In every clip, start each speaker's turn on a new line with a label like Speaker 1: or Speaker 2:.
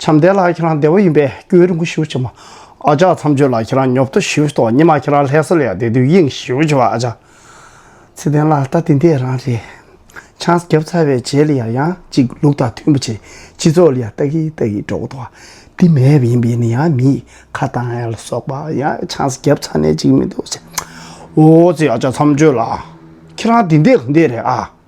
Speaker 1: བྱམས་ལྡན་ལགས་ཁྱེད་རང་བདེ་བོ་ཡིན་པས་སྐྱོན་རིང་པོ་ཞུ་ཆེ་མོ་ཨ་ཅག་མཚམས་གཅོད་ལགས་ཁྱེད་རང་ཉོབ་ཏོ་ཞུ་ཏོ་ཉི་མ་ཁྱེད་རང་ལྷས་ས་ལ་ཡག་བདེ་དུས་དབྱིངས་ཞུ་ཆེ་བ་ཨ་ཅག། ཚེ་བརྟན་ལགས་ལྟ་དེ་འདས་རང་རེད། ཆང་བརྒྱབ་ཚར་བའི་རྗེས་ལ་ཡང་ཡང་ཅིག་ལུགས་དང་མཐུན་པོ་བྱེད་སྤྱི་ཚོགས་ལ་ཡང་ལྟ་གིན་ལྟ་གིན་འགྲོ་གི་འདུག་འདི་མེད་པ་ཡིན་པས་ནི་ཡང་མི་ཁ་བཏང་ཡ་ལ་སོགས་པ་ཡང་ཆང་བརྒྱབ་ཚར་ནས་ཅིག་མི་འདུག་ཟེར། འོ་ཙི་ཨ་ཅག་མཚམས་གཅོད་ལགས་ཁྱེད་རང་དེ་འདས་ག་འདས་རེད་ཨ།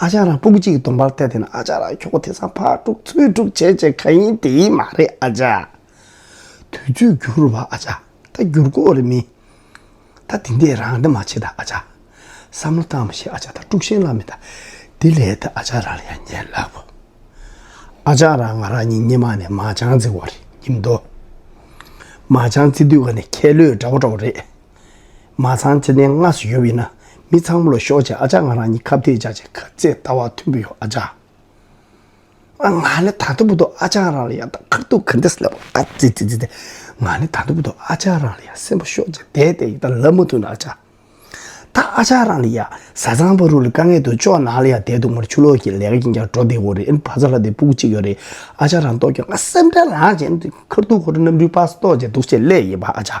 Speaker 1: ཨ་ཅག་རང་སྤུ་གུ་གཅིག་གི་གདོང་པར་བལྟས་བལྟས་ན་ཨ་ཅག་རང་ཁྱོ་ག་དེ་སང་ཕར་དཀྲུགས་ཚུར་དཀྲུགས་བྱས་བྱས་ག་ཡིན་དེ་ཡིན་མ་རེད་ཨ་ཅག། དུས་ཚོད་འགྱུར་བ་ཨ་ཅག་ད་འགྱུར་དགོས་རེད་མིན། ད་འདི་འདྲས་རང་འདྲ་མ་བྱེད་ད་ཨ་ཅག། བསམ་བློ་བཏང་མ་ཤེས་ཨ་ཅག་ད་དཀྲུགས་ཤིང་ལ་མི་ད་འདི་ལས་ད་ཨ་ཅག་རང་ལ་ཡང་ཉན་ལགས་པོ། ཨ་ཅག་རང་ང་རང་གཉིས་སྙེ་མ་ནས་མ་ཅང་རྩི་བར་ཡིན་མདོག། མ་ཅང་རྩི་དུས་ཀ་ནས་ཁྱེད་ལོས་འདྲ་བོ་འདྲ་བོ་རེད། མ་ཚང་ཅི་ནས་སྔ་སུ་ཡོད་བས་ན་མི་ཚང་མོ་ལ་ཤོག་ཅེས་ཨ་ཅག་ང་རང་གཉིས་ཁ་བརྡས་བྱ་ཆེད་ཁ་རྩེད་ལྟ་བ་མཐུན་པོ་ཡོད་ཨ་ཅག་ང་ནི་ད་དུ་བུ་དོ་ཨ་ཅག་རང་ལ་ཡང་དག་ཁར་ཐུག་ཁར་འདེད་སླེབས་པ་ཨ་ཙི་ཙི་ཙི་ང་ནི་ད་དུ་བུ་དོ་ཨ་ཅག་རང་ལ་ཡང་སེམས་པ་ཤོག་ཅེས་བསྡད་བསྡད་ཡིན་ད་ལབ་མ་ཐུབ་ན་ཨ་ཅག་ད་ཨ་ཅག་རང་ལ་ཡང་བཟའ་ཚང་བ་རུ་ལ་དཀའ་ངལ་དུ་ཅོག་ནང་ལ་ཡང་བསྡད་འདུག་མར་ཆུ་ལོག་གི་ལས་ཀ་ཡིན་ཀྱང་འགྲོ་བསྡད་འོ་རེད་ཨེ་ཕ་ཚ་ལ་དེ་སྤུ་གུ་གཅིག་ཡོད་རེད་ཨ་ཅག་རང་ལྟོས་ཀྱང་ང་སེམས་ཁྲལ་ལངས་བྱས་ཁར་ཐུག་ཁར་གནམ་རུས་སྤགས་སུ་ལྟོགས་བྱས་འདུག་ཅེས་སླད་ཡིན་པ་ཨ་ཅག།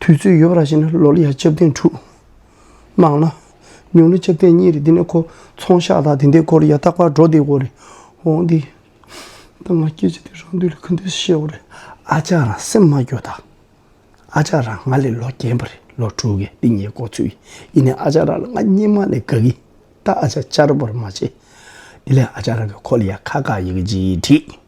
Speaker 1: དུས་ཚོད་ཡོད་པ་ར་ཤི་ན་ལོ་ལི་ཡ་ལྕགས་རྟེན་དྲུག། སྣང་ན། ཉུང་ན་ལྕགས་རྟེན་གཉིས་རེད་འདི་ནས་ཁོ་ཚོང་ཤག་དང་དེ་འདའི་སྐོར་ཡ་ཏག་པར་འགྲོ་བསྡད་འོ་རེད། འོང་འདི། ད་ང་སྐད་ཆ་དེ་རང་དུས་ལ་ཁུ་འདེད་བཤད་འོ་རེད། ཨ་ཅག་རང་སེམས་མ་སྐྱོ་དང། ཨ་ཅག་རང་ང་ལས་ལོ་རྒན་པ་རེད་ལོ་དྲུག་གི་སྟེང་ཉེ་སྐོར་ཚུད་ཡིན་ཡིན་ནའི་ཨ་ཅག་རང་ལ་ང་སྙིང་མ་ནས་དགའ་གི་ད་ཨ་ཅག་བསྐྱར་བོར་མ་བྱེད། དེ་ལས་ཨ་ཅག་རང་གི་ཁོ་ལི་ཡ་ཁ་ཁ་ཡི་གི་ཇི་ཡི་བྲིས།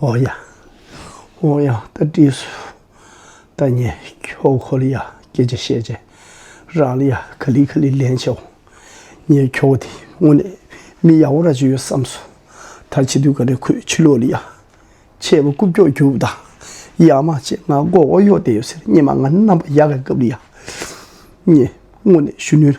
Speaker 1: ཨོ་ཡ། ཨོ་ཡ། ད་བྲིས་སུ། ད་ཉན། ཁྱོ་གོ་ལི་ཡ་སྐད་ཆ་བཤད་རྗེས། རང་ལི་ཡ་ག་ལི་ག་ལི་ལན་བྱས་འོང། ངས་ཁྱོ་བོ་དེ་དངོས་གནས་མི་ཡག་པོ་རག་གྱི་ཡོད་བསམས་སོང། ད་བྱེད་དུས་ག་ལེར་ཁོས་ཕྱི་ལོག་ལི་ཡ། ཆད་པ་རྐུབ་ཀྱོག་རྒྱུག་དང། ཡ་མ་བྱེད་ང་མགོ་བོ་གཡོག་བསྡད་ཡོད་ཟེར་སྙེ་མ་ང་རྣམ་པ་ཡག་ག་གབ་ལི་ཡ། ངས་དངོས་གནས་གཞོན་ནུའི།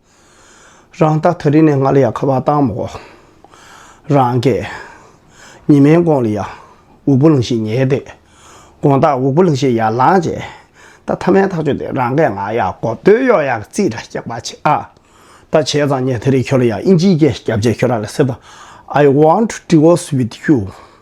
Speaker 1: རང་རྟགས་ཐག་རིང་ནས་ང་ལ་ཡང་ཁ་བ་བཏང་མོ། རང་སྐད། ཉི་མའི་མགོ་ལ་ཡང་འུག་པོ་ལང་ཤིང་ཉལ་ཏེ། དགོངས་དག་འུག་པོ་ལང་ཤིང་ཡར་ལངས་བྱས། ད་ཐ་མའི་ཐག་ཆོད་དེ་རང་སྐད་ང་ཡག་གོ་སྟོད་གཡོག་ཡག་རྩིས་ར་སྐྱག་པ་བྱེད་ཨ། ད་བྱས་ཙང་ཉན་ཐ་རིང་ཁྱོད་ལ་ཡང་ཨིན་ཇིའི་སྐད་སྐྱབས་བྱས་ཁྱོད་རང་ལ་སེ་ད། I want to divorce with you།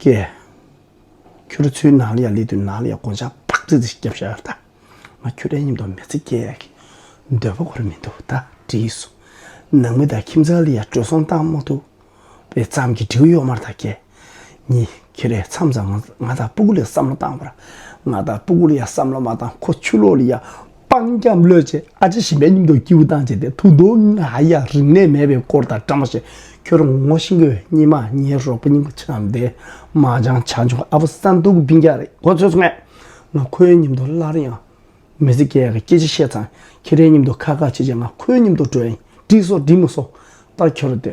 Speaker 1: ཀྱེ། ཁྱོད་ཚོའི་ནང་ལ་ཡང་ལས་དུས་ནང་ལ་ཡང་དགོངས་འཆར་ཕག་ཚིལ་ཚིལ་ཞིག་བརྒྱབ་བཞག་ད། ང་ཁྱོད་ལ་སྙིང་སྟོབས་མེད་ཚེ་སྐྱེ་ཡག་གི། འདོད་པ་ཁོར་མི་འདུག་ད་བྲིས་སོ། ནང་མི་དང་ཁྱིམ་ཚང་ལ་ཡང་བྲོས་སོང་སྟངས་མ་ཐུབ། པའི་ཙམ་གྱིས་འབྲི་གུ་གཡོག་མར་དང་ཀྱེ། ཉི། ཁྱེད་རས་མཚམས་མཚམས་ང་དང་སྤུ་གུ་ལ་བསམ་བློ་བཏང་བར། ང་དང་སྤུ་གུ་ལ་ཡང་བསམ་བློ་མ་བཏང་ཁོ་ཆུ་ལོག་ལ་ཡང་སྤང་སྐྱབས་བློས་བྱས་ཨ་ཅེ་ཞིམ་པའི་སྙིང་སྟོབས་སྐྱིའུ་དང་བཅས་ཏེ་ཐུགས་རྡོ་རྔ་ཨ་ཡ་རིག་གནས་མེད་པའི་སྐོར་དང་བཀྲ་མ་ཤིས་ཁྱོད་རང་ངོ་ཤེས་དགོས་གཉིད་མ་ཉལ་རོགས་པ་སྙིང་པོ་ཆེ་ནམ་འདས་མ་ཅང་བྱ་འབྱུང་ཨ་ཕོ་ས་འདུག་གི་བིང་རྒྱ་རེད་གོ་ཚོད་སོང་ངས་ང་ཁོའི་སྙིང་དོ་སླར་ཡང་མི་ཟེར་སྐད་ག་སྐད་ཅིག་བཤད་ཙང་ཁྱེད་རའི་སྙིང་དོ་ཁ་ཁ་ཆེ་ཆེ་ང་ཁོའི་སྙིང་དོ་དྲོད་ཡིན་དྲིས་སོ་དྲིས་མི་སོ་ད་ཁྱོད་ར་དེ་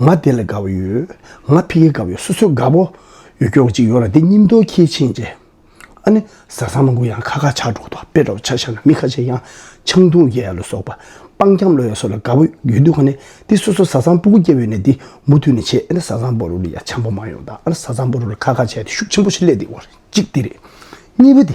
Speaker 1: ང་དེ་ལ་དགའ་བོ་ཡོད། ང་ཕི་གེ་དགའ་བོ་ཡོད་སོ་སོས་དགའ་བོ་ཡོད་སྐྱོ་བོ་གཅིག་ཡོད་ར་དེ་སྙིང་སྟོབས་ཁྱེད་ཕྱིན་རྗེས། ཨ་ནི་བཟའ་ཚང་མ་གུ་ཡངས་ཁ་ཁ་ཆགས་འགྲོ་འདུག་དཔེ་ལྟ་བུ་ཆ་ཤ་ན་མི་ཁ་ཤས་ཡང་ཆང་འཐུང་ཡས་ལ་སོགས་པ་སྤང་འཁྱམས་ལོ་ཡས་སོགས་ལ་དགའ་བོ་ཡོད་འདུག་ཨ་ནི་དེ་སོ་སོ་བཟའ་ཚང་སྤུ་གུ་སྐྱེ་བོའི་ནས་དེ་མུ་མཐུད་ནས་བྱེད་ཨ་ནི་བཟའ་ཚང་པོ་རུ་ལ་ཡ་ཆང་པོ་མང་ཡོང་དང་ཨ་ནི་བཟའ་ཚང་པོ་རུ་ལ་ཁ་ཁ་བྱས་ཏེ་ཤུགས་ཆེན་པོ་ཞིག་སླེབས་འདུག་བར་གཅིག་དེ་རེད། གཉིས་པ་དེ།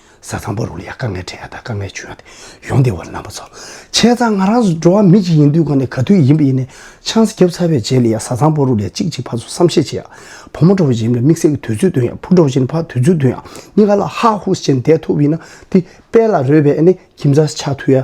Speaker 1: ས་གཙང་པོ་རུ་ལ་ཡང་དཀའ་ངལ་འཕྲད་ཡ་དང་དཀའ་ངལ་བྱུང་ཡ་དེ་ཡོང་སྡེ་བ་རྣམ་པ་ཚོ་ཁྱེད་ཚང་ང་རང་འགྲོ་བ་མི་གཅིག་ཡིན་དུས་གང་ནས་ག་དུས་ཡིན་པ་ཡིན་ནས་ཆང་ས་རྒྱབ་ཚར་བའི་རྗེས་ལ་ཡང་ས་གཙང་པོ་རུ་ལ་ཡང་གཅིག་གཅིག་ཕར་ཚུར་བསམ་བཤད་བྱེད་ཡ་བུ་མོ་འགྲོ་བ་ཡིན་ན་དམིགས་བསལ་གྱི་དུས་ཚོད་སྟོན་ཡ་བུ་འགྲོ་བ་ཡིན་ན་ཕར་དུས་ཚོད་སྟོན་ཡ་གཉིས་ཀ་ལ་ཧ་ཧུ་ཅན་བསྡད་ཐུབ་ཡིན་ན་དེ་དཔལ་ལ་རོལ་བའི་ཁྱིམ་ཚང་ཆགས་ཐུབ་ཡ།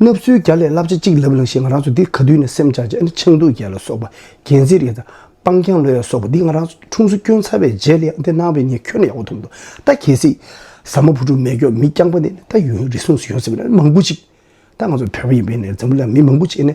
Speaker 1: ལབ་གསོལ་བརྒྱ་ལས་བསླབ་བྱ་གཅིག་ལབ་ལང་ཞེས་ང་རང་ཚོ་འདི་ག་དུས་ནས་སེམས་འཆར་ཅིང་ཆང་དུག་རྒྱལ་ལ་སོགས་པ་རྒྱལ་མཚན་རིགས་དང་སྤང་རྐྱང་ལོས་ཡ་སོགས་པ་འདི་ང་རང་འཁྲུངས་སུ་བསྐྱོན་ཚར་བའི་རྗེས་ལས་འདི་གནང་བས་ངས་ཁྱོད་ལ་ཡག་པོ་ཐུབ་འདུག་ད་གལ་སྲིད། ཟ་མ་བུ་ཕྲུག་མེད་སྐྱོ་མི་རྐྱང་པ་ནས་ད་ཡུན་རིང་སོང་ཟེར་ཡོང་སྲིད་པས་ན་མང་པོ་ཅིག་ད་ང་ཚོ་བོད་པ་ཡིན་པས་ནས་འཛམ་བུ་གླིང་ལ་མི་མང་པོ་ཅིག་ནས་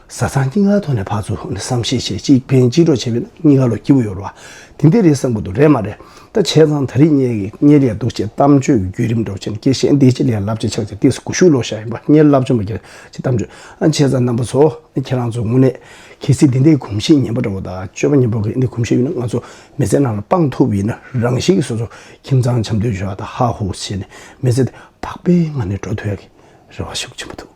Speaker 1: བཟའ་ཚང་སྐྱིད་སྔ་ཐོག་ནས་ཕར་ཚུར་བསམ་ཤེས་བྱེད་གཅིག་ཕན་གཅིག་གྲོགས་བྱས་པས་ན་གཉིས་ཀ་ལོ་སྐྱིད་པོ་ཡོད་རེད་བ། དེ་འདི་རེད་བསམ་དགོས་འདུག་རེད་མ་རེད་ད་བྱས་ཙང་ད་རིས་གཉེར་གི་གཉེར་ཡས་འདུག་ཅེས་གཏམ་བརྗོད་ཀྱི་བརྒྱུད་རིམ་སྒྲོག་བྱས་ནས་སྐྱེ་ཤས་འདི་སྤྱི་ལས་བསླབ་བྱ་ཆགས་ཅིག་སྟེགས་སུ་ཀུ་ཤུ་ལོག་བཞག་ཡིན་པ་གཉེར་བསླབ་བྱ་མ་ཁྱེར་ཅེས་གཏམ་བརྗོད་ཨ་བྱས་ཙང་རྣམ་པ་ཚོ་ཁྱེད་རང་ཚོས་དངོས་གནས་གལ་སྲིད་འདི་འདྲའི་གོམས་གཤིས་ངན་པ་འདྲ་བོ་དང་སྤྱོད་པ་ངན་པོ་གི་འདི་གོམས་གཤིས་ཡོད་ན་ང་ཚོ་མི་ཚེ་ནང་ལ་སྤང་ཐུབ་ཡིན་ན་རང་བཞིན་གྱི་སོ་སོ་ཁྱིམ་ཚང་འཆམ་མཐུན་བྱོས་བ་དང་ཧ་ཧུ་བྱས་ནས་མི་ཚེ་འདི་བག་པའི་ངང་ནས་འགྲོ་ཐུབ་ཡག་གི་རེད་བ་ཤུགས་ཆེན་པོ་ཐུགས་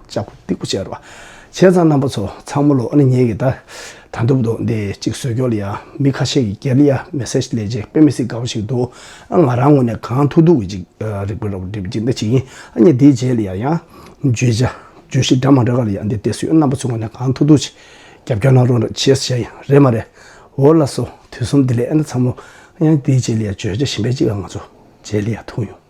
Speaker 1: ལྕགས་ཕོ་སྟེགས་བུ་བྱས་རོ། བྱས་ཙང་རྣམ་པ་ཚོ་ཚང་མ་ལོ་ཨ་ནི་ཉེ་གི་ད་ད་འདུག་འདུག་འདི་གཅིག་བཟོས་ཀྱོག་ལི་ཡ་མི་ཁ་ཤས་ཀྱི་རྒྱ་ལི་ཡ་མེ་སེ་ཇ་ལས་ཇེ་དཔེ་མི་སི་ག་བ་ཞིག་འདུག་ཨ་ང་རང་ངོ་ནས་གང་ཐུག་ཐུག་གི་ཅིག་རིག་པའི་རོ་བོ་འདི་འདི་ཅིག་ཡིན་ཨ་ནི་འདི་ཇེ་ལི་ཡ་ཡ་བརྗོད་བྱ་བརྗོད་གཞི་འདྲ་མང་འདྲ་ག་ལི་ཡ་འདི་དེ་སུས་རྣམ་པ་ཚོ་ངོ་ནས་གང་ཐུག་ཐུག་ཅིག་རྒྱབ་སྐྱོར་གནང་རོགས་རེ་བྱས་བྱས་ཡིན་རེད་མ་རེད་འོ་ལ་སོ་དུས་གསུམ་འདི་ལས་ཨ་ནི་ཚང་མ་ཨ་ནི་འདི་ཇེ་ལི་ཡ་བརྗོད་བྱ་གཞན་པའི་ཅིག་ཨ་ང་ཚོ་ཇེ་ལི་ཡ་ཐུག་ཡོང།